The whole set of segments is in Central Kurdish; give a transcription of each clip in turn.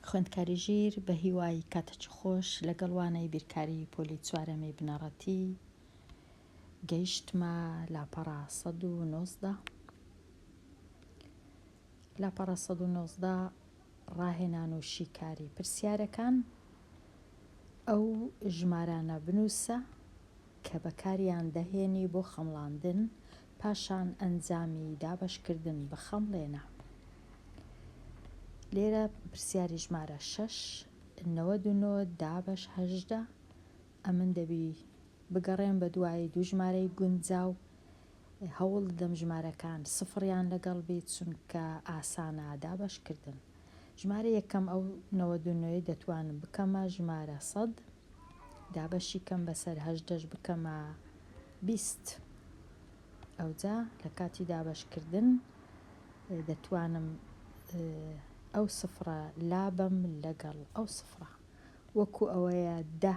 خوێندکاری ژیر بە هیوای کاتەچ خۆش لەگەڵ وانەی بیرکاری پۆلی چوارەمی بنەڕەتی گەیشتمە لاپەڕە 1990 لاپەڕە 1990 ڕاهێنان و شیکاری پرسیارەکان ئەو ژمارانە بنووسە کە بەکاریان دەهێنی بۆ خەمڵاندن پاشان ئەنجامی دابەشکردن بە خەمڵێ نا. لێرە پرسیاری ژمارە شەش، نەوەد و نۆ دابەش هەژدە، ئەمن دەبی بگەڕێم بە دوای دوو ژمارەی گونجاو، هەوڵ دەدەم ژمارەکان سفڕیان لەگەڵ بی چونکە ئاسانە دابەش کردن. ژمارە یەکەم ئەو نەوەد و نۆیە دەتوانم بکەمە ژمارە سەد، دابەشی کەم بەسەر هەژدەش بکەمە بیست ئەوجا لە کاتی دابەشکردن دەتوانم ئەو سفرە لابەم لەگەڵ ئەو سفرە وەکو ئەوەیە دە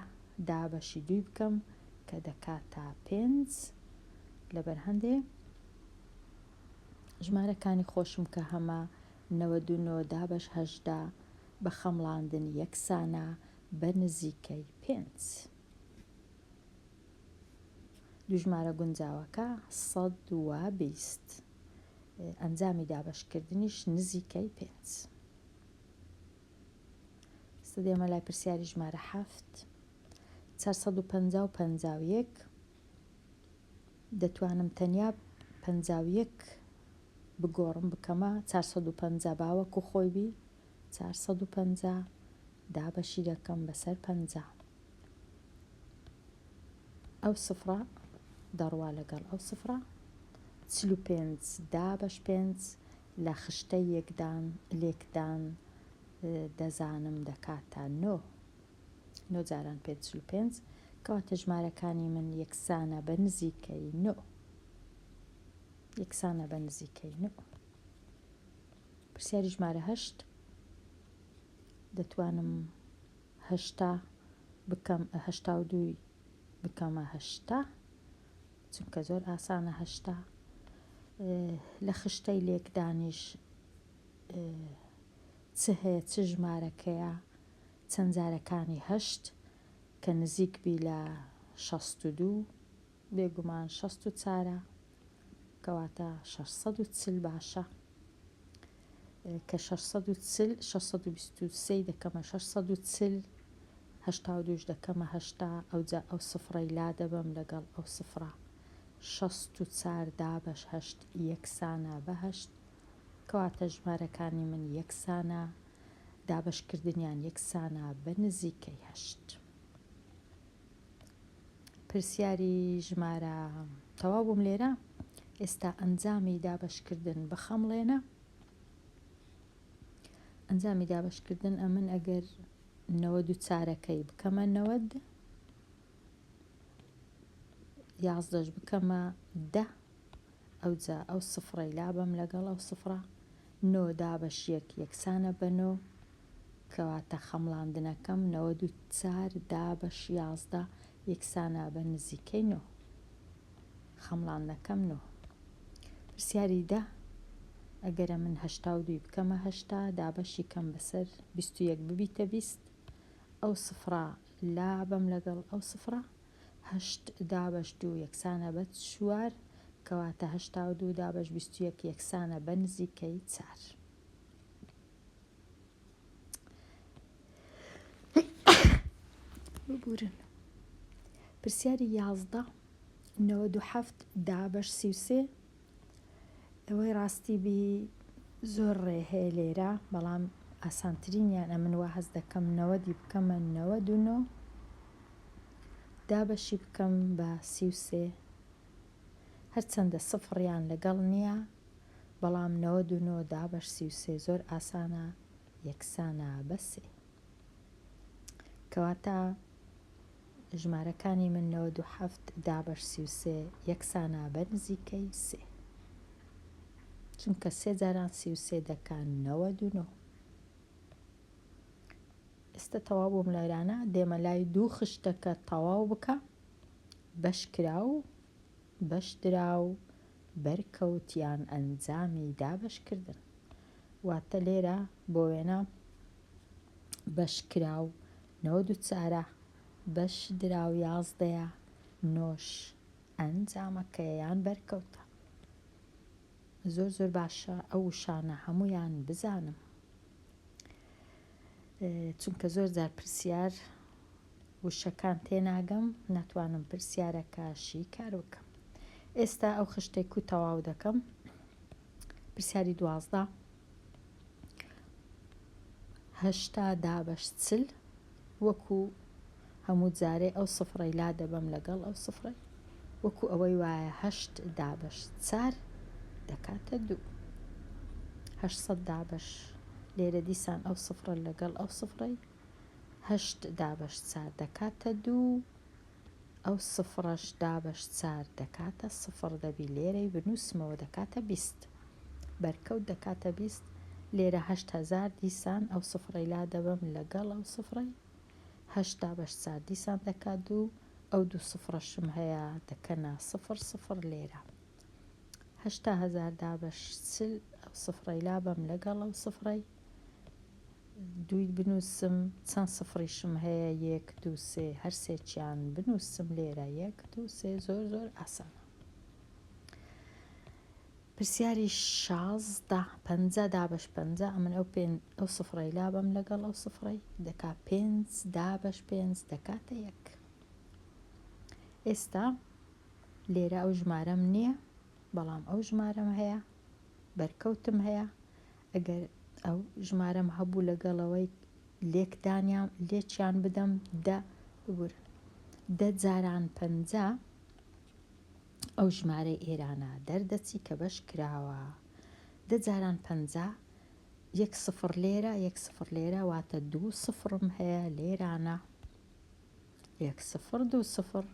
دابەشی دووی بکەم کە دەکاتە پێنج لەبەر هەندێ ژمارەکانی خۆشم کە هەمە نەوەد و نۆ دابەش هەشدا بە خەمڵاندن یەکسانە بە نزیکەی پێنج. دووژمارە گونجاوەکە سەد و بیست. ئەنجامی دابەشکردنیش نزیکەی پێنج. سە دێمە لای پرسیاری ژمارە حەفت. چار سەد و پەنجا و پەنجا و یەک. دەتوانم تەنیا پەنجا و یەک بگۆڕم بکەمە چار سەد و پەنجا با وەکو خۆی بی. چار سەد و پەنجا دابەشی دەکەم بەسەر پەنجا. ئەو سفرە دەڕوا لەگەڵ ئەو سفرە چل و پێنج دابەش پێنج لە خشتە یەکدان لێکدان دەزانم دەکاتە نۆ نۆ جاران پێ چل و پێنج کەواتە ژمارەکانی من یەکسانە بە نزیکەی نۆ یەکسانە بە نزیکەی نۆ پرسیاری ژمارە هەشت دەتوانم هەشتا بکەم هەشتا و دووی بکەمە هەشتا چونکە زۆر ئاسانە هەشتا لە خشتەی لێکدانیش چ هەیە چ ژمارەکەیە چەند جارەکانی هەشت کە نزیک بی لە شەست و دوو بێگومان شەست و چارە کەواتە شەش سەد و چل باشە کە شەش سەد و چل شەش سەد و بیست و سێی دەکەمە شەش سەد و چل هەشتا و دووش دەکەمە هەشتا ئەوجا ئەو سفڕەی لا دەبەم لەگەڵ ئەو سفڕە شەست و چار دابەش هەشت یەکسانە بە هەشت کەواتە ژمارەکانی من یەکسانە دابەشکردنیان یەکسانە بە نزیکەی هەشت. پرسیاری ژمارە تەواو بووم لێرە ئێستا ئەنجامی دابەشکردن بخەمڵێنە ئەنجامی دابەشکردن ئەمن ئەگەر نەوە دوو چارەکەی بکەمە نەوەد یازدەش بکەمە دە ئەوجا ئەو سفڕەی لابم لەگەڵ ئەو سفڕە نۆ دابەشیەک یەکسانە بەنۆ کەواتە خەمڵاندنەکەم نەوەد و چار دابەش یازدە یەکسانە بە نزیکەی نۆ. خەمڵاندنەکەم نۆ. پرسیاری دە، ئەگەرە من هەشتا و دووی بکەمە هەشتا، دابەشی کەم بەسەر بیست و یەک ببیتە بیست، ئەو سفڕە لابەم لەگەڵ ئەو سفڕە، هەشت دابەش دوو یەکسانە بە چوار، کەواتە هەشتا و دوو دابەش بیست و یەک یەکسانە بە نزیکەی چار. ببورن پرسیاری یازدە نەوەد و حەفت دابەش سی و سێ ئەوەی ڕاستی بی زۆر ڕێ هەیە لێرە بەڵام ئاسانترینیان ئەمن وا هەز دەکەم نەوەدی بکەمە نەوە دوونۆ دابەشی بکەم بە سی و سێ هەرچەندە سفڕیان لەگەڵ نییە، بەڵام نەوەد و نۆ دابەش سی و سێ زۆر ئاسانە یەکسانە بە سێ. کەواتە ژمارەکانی من نەوەد و حەفت دابەش سی و سێ یەکسانە بە نزیکەی سێ. چونکە سێ جاران سی و سێ دەکا نەوەد و نۆ. ئێستا تەواو بووم لایرانە دێمە لای دوو خشتەکە تەواو بکە بەشکراو، بەشدراو، بەرکەوت یان ئەنجامی دابەشکردن. واتە لێرە بۆ وێنە بەشکراو نەوەد و چارە، بەشدراو یازدەیە، نۆش ئەنجامەکەیە یان بەرکەوتە. زۆر زۆر باشە ئەو وشانە هەموویان بزانم چونکە زۆر جار پرسیار وشەکان تێناگەم ناتوانم پرسیارەکە شیکار بکەم ئێستا ئەو خشتەی کو تەواو دەکەم پرسیاری دوازدە هەشتا دابەش چل وەکو هەموو جارێ ئەو سفڕی لا دەبەم لەگەڵ ئەو سفڕی وەکو ئەوەی وایە هەشت دابەش چار دەکاتە دوو هەشت دابەش لێرە دیسان ئەو سفرە لەگەڵ ئەو سفڕی هەشت دابەش چار دەکاتە دوو ئەو سفڕەش دابەش چار دەکاتە سفڕ دەبی لێرەی بنووسمەوە دەکاتە بیست بەرکەوت دەکاتە بیست لێرە هەشت هەزار دیسان ئەو سفڕەی لا دەبەم لەگەڵ ئەو سفڕەی هەشت دابەش چار دیسان دەکات دوو ئەو دوو سفڕەشم هەیە دەکەنە سفڕ سفڕ لێرە هەشتا هەزار دابەش چل ئەو سفڕەی لا بەم لەگەڵ ئەو سفڕەی دووی بنووسم چەند سفڕیشم هەیە یەک دوو سێ هەر سێکیان بنووسم لێرە یەک دوو سێ زۆر زۆر ئاسانە پرسیاری شازدە پە دابش پە ئەمن ئەو پێ ئەو سفڕی لابم لەگەڵ ئەو سفڕی دەکا پێ دابش پێ دەکاتە یەک ئێستا لێرە ئەو ژمارەم نییە بەڵام ئەو ژمارەم هەیە بەرکەوتم هەیە ئەگەر ئەو ژمارەم هەبوو لەگەڵەوەی لێکدانیان لێکیان بدەم دە ببورن دە جاران پەنجا ئەو ژمارەی ئێرانە دەردەچی کە بەش کراوە دە جاران پەنجا یەک سفر لێرە یەک سفر لێرە واتە دوو سفرم هەیە لێرانە یەک سفر دوو سفر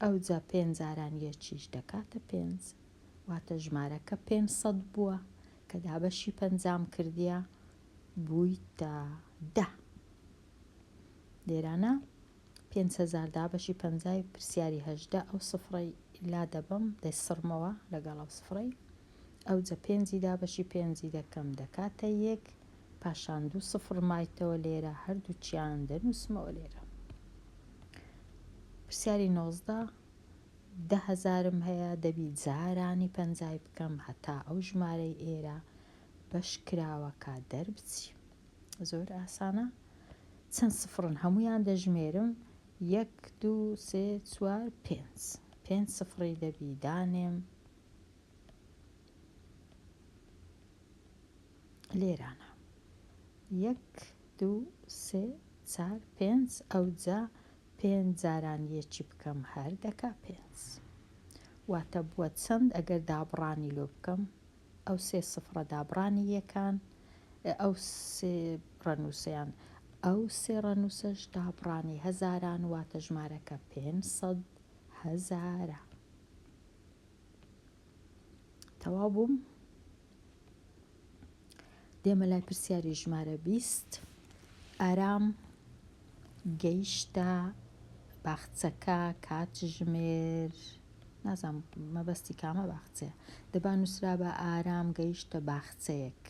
ئەو جا پێنجاران یەکیش دەکاتە پێنج واتە ژمارەکە پێنج سەد بووە کە دابەشی پەنجام کردیە بوویتە دە لێرانە پێنج هەزار دابەشی پەنجای پرسیاری هەژدە ئەو سفڕەی لا دەبم دەیسڕمەوە لەگەڵ ئەو سفڕەی ئەو جە پێنجی دابەشی پێنجی دەکەم دەکاتە یەک پاشان دوو سفڕ مایتەوە لێرە هەردووچیان دەنووسمەوە لێرە پرسیاری نۆزدە دە هەزارم هەیە دەبی جارانی پەنجای بکەم هەتا ئەو ژمارەی ئێرە بەش کراوەکە دەربچی زۆر ئاسانە چەند سفڕن هەمویان دەژمێرم یەک دوو سێ چوار پێنج پێنج سفڕی دەبی دانێم لێرانە یەک دوو سێ چار پێنج ئەوجا پێنج جاران یەکی بکەم هەر دەکا پێنج واتە بووە چەند ئەگەر دابڕانی لۆ بکەم ئەو سێ سفڕە دابڕانی یەکان ئەو سێ ڕەنووسەیان ئەو سێ ڕەنووسەش دابڕانی هەزاران واتە ژمارەکە پێنج سەد هەزارە. تەواو بووم دێمە لای پرسیاری ژمارە بیست ئارام گەیشتە باخچەکە کات ژمێر نازانم مەبەستی کامە باخچەیە دەبا نووسرا بە ئارام گەیشتە باخچەیەک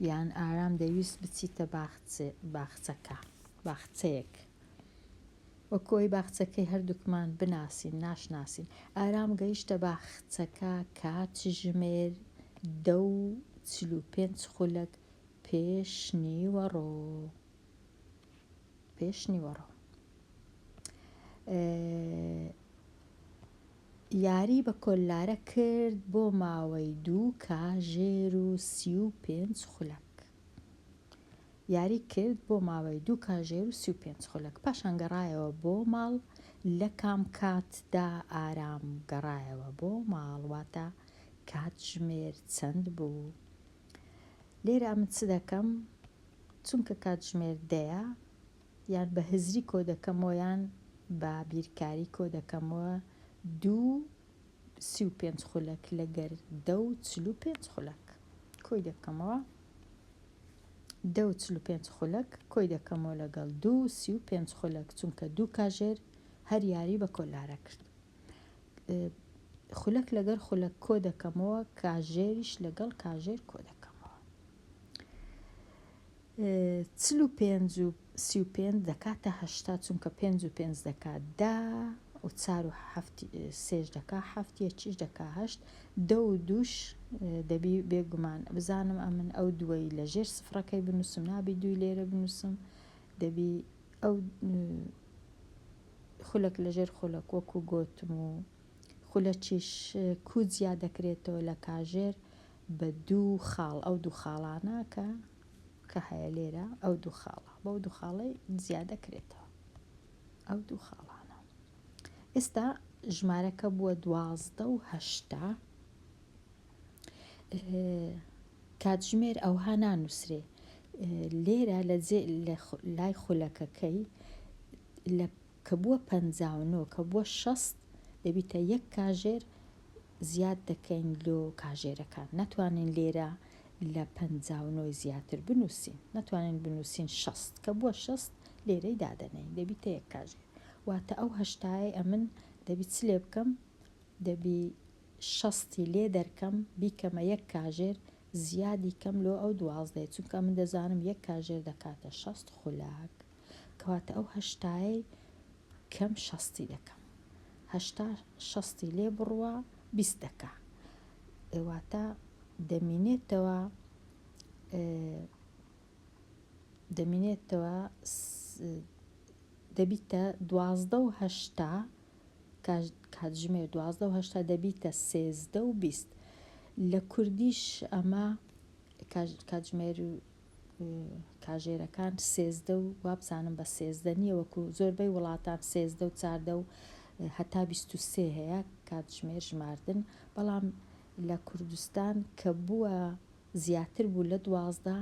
یان ئارام دەویست بچیتە باخچەکە باخچەیەک وە کۆی باخچەکەی هەردووکمان بناسین ناشناسین ئارام گەیشتە باخچەکە کاتژمێر دە و چل و پێنج خولەک پێش نیوەڕۆ پێش نیوەڕۆ یاری بە کۆللارە کرد بۆ ماوەی دوو کاژێر و سی و پێنج خولەک یاری کرد بۆ ماوەی دوو کاژێر و سی و پێنج خولەک پاشان گەڕایەوە بۆ ماڵ لە کام کات دا ئارام گەڕایەوە بۆ ماڵ واتە کاتژمێر چەند بوو لێرە من چ دەکەم چونکە کاتژمێر دەیە یان بە هزری کۆ دەکەمەوە یان بە بیرکاری کۆ دەکەمەوە دوو سی و پێنج خولەک لە گەردە و چل و پێنج خولەک کۆی دەکەمەوە دە و چل و پێنج خولەک کۆی دەکەمەوە لەگەڵ دوو سی و پێنج خولەک چونکە دوو کاژێر هەر یاری بە کۆلارە کرد خولەک لەگەر خولەک کۆ دەکەمەوە کاژێریش لەگەڵ کاژێر کۆ دەکەمەوە چل و پێنج و سی و پێنج دەکاتە هەشتا چونکە پێنج و پێنج دەکا دە و چار و حەفت سێش دەکا حەفت یەکیش دەکا هەشت دە و دووش دەبی بێگومان بزانم ئەمن ئەو دووەی لە ژێر سفرەکەی بنووسم نابی دووی لێرە بنووسم دەبی ئەو خولەک لە ژێر خولەک وەکو گۆتم و خولەکیش کو جیا دەکرێتەوە لە کاژێر بە دوو خاڵ ئەو دوو خاڵانە کە کە هەیە لێرە ئەو دوو خاڵە بەو دوو خاڵەی زیادە کرێتەوە ئەو دوو خاڵانە ئێستا ژمارەکە بووە دوازدە و هەشتا کاتژمێر ئەوها نانووسرێ لێرە لە لای خولەکەکەی لە کە بووە پەنجا و نۆ کە بووە شەست دەبیتە یەک کاژێر زیاد دەکەین لۆ کاژێرەکان ناتوانین لێرە لە پەنجا و نۆی زیاتر بنووسین ناتوانین بنووسین شەست کە بووە شەست لێرەی دادەنێین دەبیتە یەک کاژێر واتە ئەو هەشتایەی ئەمن دەبی چ لێ بکەم دەبی شەستی لێ دەرکەم بیکەمە یەک کاژێر زیادی کەم لۆ ئەو دوازدەیە چونکە ئەمن دەزانم یەک کاژێر دەکاتە شەست خولەک. کەواتە ئەو هەشتایەی کەم شەستی دەکەم هەشتا شەستی لێ بڕوە بیست دەکا ئێواتە دەمینێتەوە دەمینێتەوە دەبیتە دوازدە و هەشتا کاتژمێر دوازدە و هەشتا دەبیتە سێزدە و بیست لە کوردیش ئەمە کاتژمێر کاژێرەکان سێزدە و وابزانم بە سێزدە نییە وەکو زۆربەی وڵاتان سێزدە و چاردە و هەتا بیست و سێ هەیە کاتژمێر ژماردن بەڵام لە کوردستان کە بووە زیاتر بوو لە دوازدە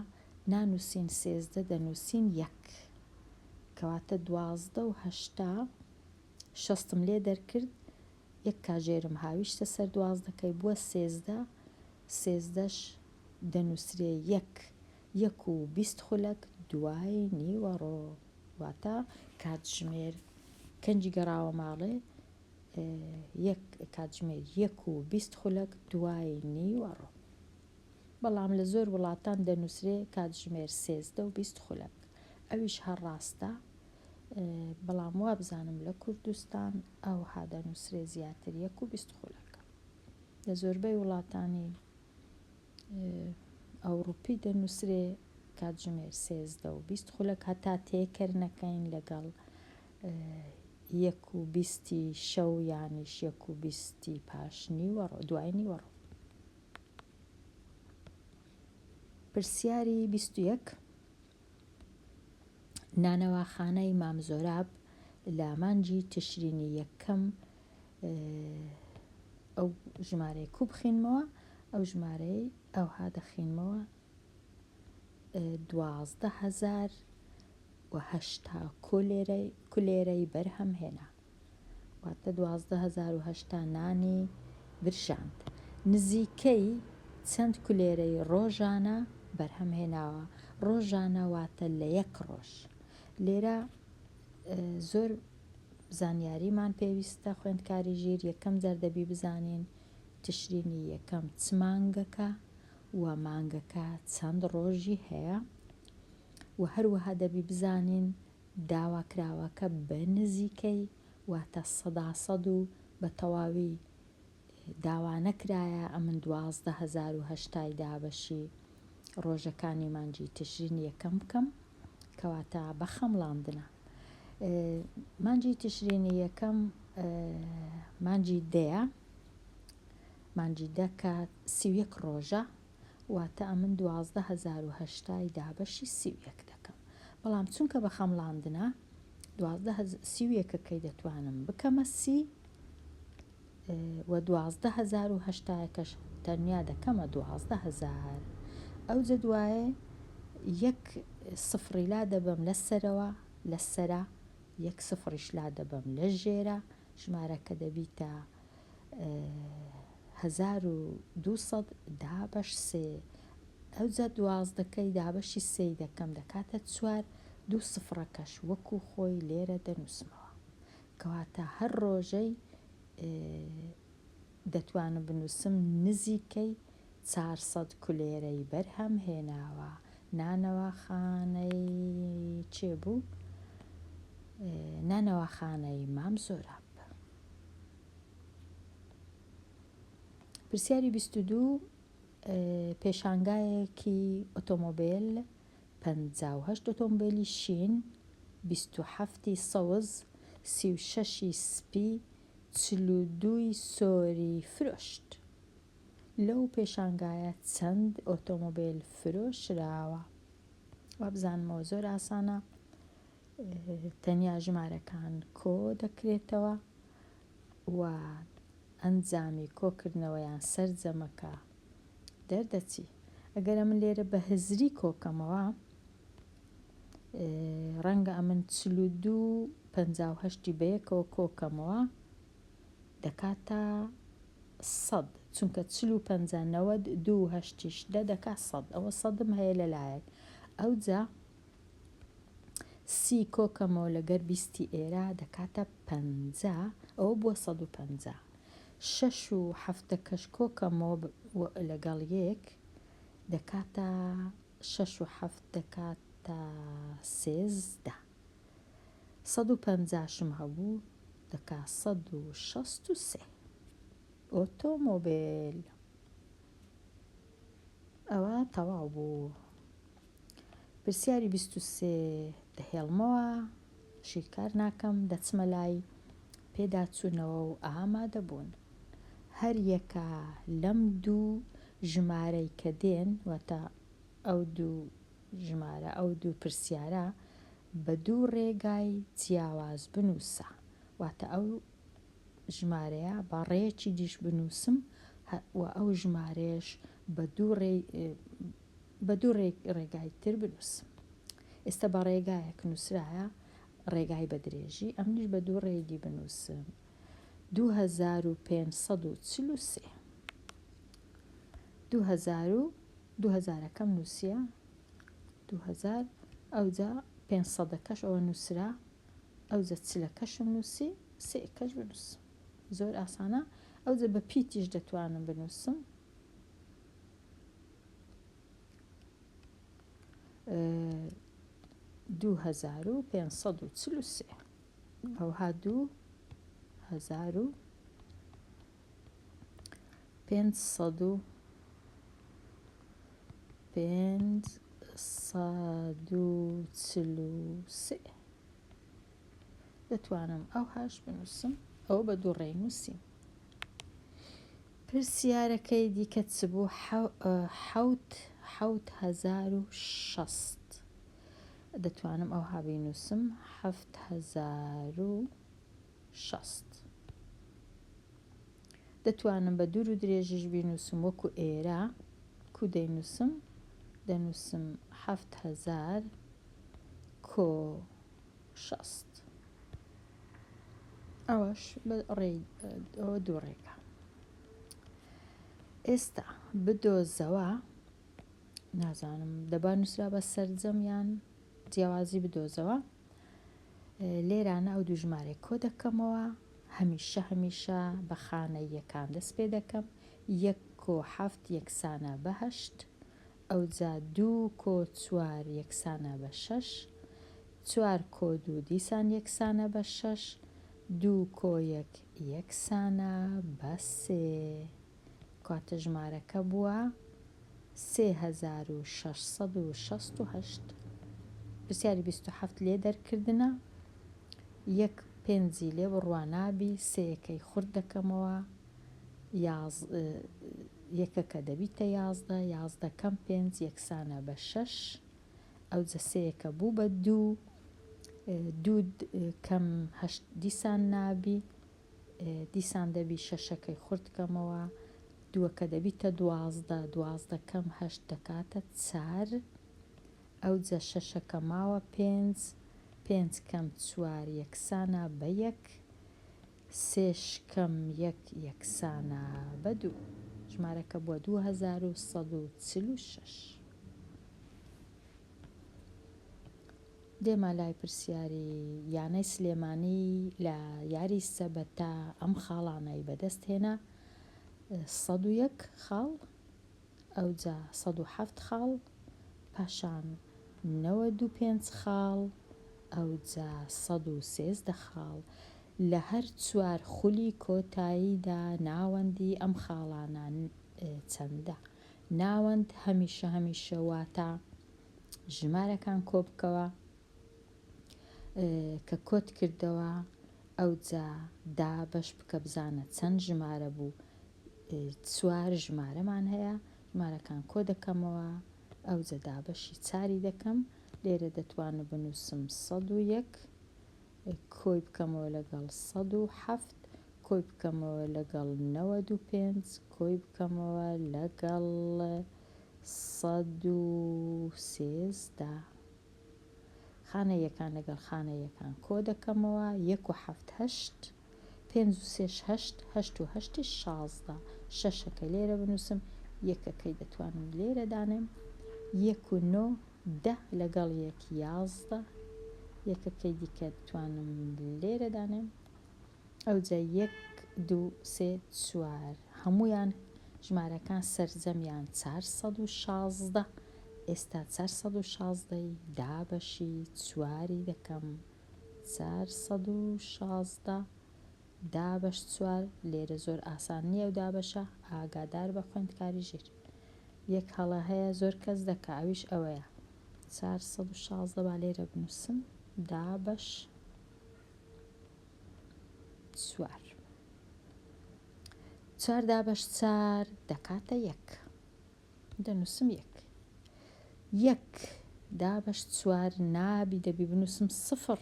نانووسین سێزدە دەنووسین یەک کەواتە دوازدە و هەشتا شەستم لێ دەرکرد یەک کاژێرم هاویشتە سەر دوازدەکەی بووە سێزدە سێزدەش دەنووسرێ یەک، یەک و بیست خولەک دوای نیوەڕۆ، واتە کاتژمێر کەنجی گەڕاوە ماڵێ، یەک، کاتژمێر یەک و بیست خولەک دوای نیوەڕۆ. بەڵام لە زۆر وڵاتان دەنووسرێ کاتژمێر سێزدە و بیست خولەک. ئەویش هەر ڕاستە، بەڵام وابزانم لە کوردستان ئەوها دەنووسرێ زیاتر یەک و بیست خولەک. لە زۆربەی وڵاتانی ئەوڕوپی دەنووسرێ کاتژمێر سێزدە و بیست خولەک هەتا تێکەر نەکەین لەگەڵ یەک و بیستی شەو یانیش یەک و بیستی پاش نیوەڕ دوای نیوەڕ پرسیاری بیست و یەک نانەواخانەی مام زۆراب لە مانجی تشرینی یەکەم ئەو ژمارەی کو بخینمەوە ئەو ژمارەی ئەوها دەخینمەوە دوازدە هزار وهشتا کولێرەی کولێرەی بەرهەم هێنا واتە دوازدە هەزار و هەشتا نانی برژاند نزیکەی چەند کولێرەی ڕۆژانە بەرهەم هێناوە ڕۆژانە واتە لە یەک ڕۆژ لێرە زۆر زانیاریمان پێویستە خوێندکاری ژیر یەکەم جار دەبی بزانین تشرینی یەکەم چ مانگەکە و مانگەکە چەند ڕۆژی هەیە و هەروەها دەبی بزانین داواکراوەکە بە نزیکەی واتە سەدا سەد و بە تەواوی داوانەکرایە ئەمن دوازدە هەزار و هەشتا ی دابەشی ڕۆژەکانی مانگی تشرین یەکەم بکەم کەواتە بە خەمڵاندنە مانگی تشرینی یەکەم مانگی دەیە مانگی دەکە سیویەک ڕۆژە واتە ئەمن دوازدە هەزار و هەشتا ی دابەشی سی و یەک دەکەم بەڵام چونکە بە خەمڵاندنە دوازدە هەزار سی و یەک ەکەی دەتوانم بکەمە سی و دوازدە هەزار و هەشتا کەش تەنیا دەکەمە دوازدە هەزار ئەوجە دوایێ یەک سفڕی لا دەبەم لە سەرەوە لە سەرا یەک سفڕیش لا دەبەم لە ژێرە ژمارەکە دەبیتە هەزار و دوو سەد دابەش سێ ئەوجا دوازدەکەی دابەشی سێی دەکەم دەکاتە چوار دوو سفڕەکەش وەکو خۆی لێرە دەنووسمەوە کەواتە هەر ڕۆژەی دەتوانم بنووسم نزیکەی چارسەد کولێرەی بەرهەم هێناوە نانەواخانەی چێ بوو نانەواخانەی مام زۆراب پرسیاری بیست و دوو، پێشانگایەکی ئۆتۆمۆبیل، پەنجا و هەشت ئۆتۆمبیلی شین، بیست و حەفت ی سەوز، سی و شەش ی سپی، چل و دوو ی سۆری فرۆشت. لەو پێشانگایە چەند ئۆتۆمۆبیل فرۆشراوە؟ وابزانمەوە زۆر ئاسانە. تەنیا ژمارەکان کۆ دەکرێتەوە و ئەنجامی کۆکردنەوەیان سەرجەمەکە دەردەچی. ئەگەر ئەمن لێرە بە هزری کۆکەمەوە، ڕەنگە ئەمن چل و دوو و پەنجا و هەشتی بەیەکەوە کۆکەمەوە دەکاتە سەد، چونکە چل و پەنجا نەوەد دوو هەشتیش دە دەکات سەد، ئەوە سەدم هەیە لەلایەک، ئەوجا سی کۆکەمەوە لەگەر بیستی ئێرە دەکاتە پەنجا ئەوە بووە سەد و پەنجا شەش و حەفتەکەش کۆکەمەوە لەگەڵ یەک دەکاتە شەش و حەفت دەکاتە سێزدە سەد و پەنجاشم هەبوو دەکا سەد و شەست و سێ ئۆتۆمۆبیل ئەوە تەواو بوو پرسیاری بیست و سێ، دەهێڵمەوە، شیکار ناکەم، دەچمە لای، پێداچوونەوە و ئامادەبوون. هەریەکە لەم دوو ژمارەی کە دێن، واتە ئەو دوو ژمارە، ئەو دوو پرسیارە، بە دوو ڕێگای جیاواز بنووسە. واتە ئەو ژمارەیە بە ڕێیەکی دیش بنووسم و ئەو ژمارەیەش بە دوو ڕێی، بە دوو ڕێگای تر بنووس. ئێستا بە ڕێگایەک نووسرایە ڕێگای بە درێژی، ئەمنیش بە دوو ڕێگی بنووسم، دوو هەزار و پێنج سەد و چل و سێ. دوو هەزار و دوو هەزارەکەم نووسیە، دوو هەزار، ئەوجا پێنج سەدەکەش ئەوە نووسرا، ئەوجە چلەکەشم نووسی، سێ کەش بنووس. زۆر ئاسانە، ئەوجە بە پیتیش دەتوانم بنووسم، دوو هەزار و پێنج سەد و چل و سێ ئەوها دوو هەزار و پێنج سەد و پێنج سەد و چل و سێ دەتوانم ئەو هاش بنووسم ئەو بە دوو ڕێنووسیم پرسیارەکەی دیکە چ بوو؟ حەوت حەوت هەزار و شەست دەتوانم ئەوها بینووسم حەفت هەزار و شەست دەتوانم بە دوور و درێژیش بینووسم وەکو ئێرە کو دەینووسم دەنووسم حەفت هەزار کۆ شەست. ئەوەش ئەوە دوو ڕێگا ئێستا بدۆزەوە نازانم دەبا نووسرا بە سرجەم یان جیاوازی بدۆزەوە لێرانە ئەو دوژمارێک کۆ دەکەمەوە هەمیشە هەمیشە بە خانە یەکان دەست پێ دەکەم یەک کۆ حەفت یەکسانە بەهشت ئەوجا دوو کۆ چوار یەکسانە بە شەش چوار کۆ دوو دیسان یەکسانە بە شەش، دوو کۆ یەک یەکسانە بە سێ. کاتژمارەکە بووە سێ هەزار و شەش سەد و شەست و هەشت. پرسیاری بیست و حەفت لێ دەرکردنە. یەک پێنجی لێ بڕوا نابی، سێیەکەی خورت دەکەمەوە، یاز یەکەکە دەبیتە یازدە، یازدە کەم پێنج یەکسانە بە شەش. ئەو جەسەیە کە بوو بە دوو دوو کەم هەشت دیسان نابی دیسان دەبی شەشەکەی خورد کەمەوە دووەکە دەبیتە دوازدە دوازدە کەم هەشت دەکاتە چار ئەو جە شەشەکە ماوە پێنج پێنج کەم چوار یەکسانە بە یەک سێ شکەم یەک یەکسانە بە دوو. ژمارەکە بووە دوو هەزار و سەد و چل و شەش. دێمە لای پرسیاری یانەی سلێمانی لە یاری سەبەتا ئەم خاڵانەی بەدەست هێنا سەد و یەک خاڵ ئەوجا سەد و حەفت خاڵ پاشان نەوەد و پێنج خاڵ ئەوجا سەد و سێزدە خاڵ لە هەر چوار خولی کۆتاییدا ناوەندی ئەم خاڵانە چەندە ناوەند هەمیشە هەمیشە واتە ژمارەکان کۆبکەوە کە کۆت کردەوە ئەوجا دا بەش بکە بزانە چەند ژمارە بوو چوار ژمارەمان هەیە، ژمارەکان کۆ دەکەمەوە، ئەوجە دابەشی چاری دەکەم، لێرە دەتوانم بنووسم سەد و یەک، کۆی بکەمەوە لەگەڵ سەد و حەفت، کۆی بکەمەوە لەگەڵ نەوەد و پێنج، کۆی بکەمەوە لەگەڵ سەد و سێزدە. خانە یەکان لەگەڵ خانە یەکان کۆ دەکەمەوە، یەک و حەفت هەشت، پێنج و سێش هەشت، هەشت و هەشتیش شازدە، شەشەکە لێرە بنووسم، یەکەکەی دەتوانم لێرە دانێم، یەک و نۆ دە لەگەڵ یەک یازدە، یەکەکەی دیکە دتوانم لێرە دانێم، ئەوجا یەک دوو سێ چوار هەموویان ژمارەکان سەرجەمیان چار سەد و شازدە، ئێستا چار سەد و شازدەی دابەشی چواری دەکەم. چار سەد و شازدە دابەش چوار لێرە زۆر ئاسان نییە ئەو دابەشە ئاگادار بە خوێندکاری ژیر یەک هەڵە هەیە زۆر کەس دەکا ئەویش ئەوەیە چار سەد و شازدە با لێرە بنووسم دابەش چوار چار دابەش چار دەکاتە یەک دەنووسم یەک. یەک دابەش چوار نابی دەبی بنووسم سفڕ.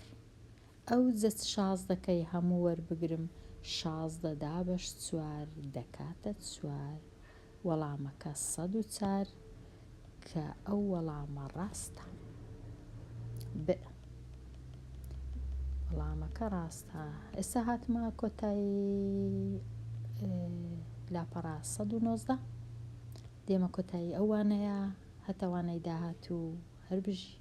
ئەوجە چ شازدەکەی هەموو وەربگرم شازدە دابەش چوار دەکاتە چوار. وەڵامەکە سەد و چار کە ئەو وەڵامە ڕاستە. ب. وەڵامەکە ڕاستە ئێستا هاتمە کۆتایی لاپەڕە 1990 دێمە کۆتایی ئەوانەیە هەتاوانەی داهات و هەربژی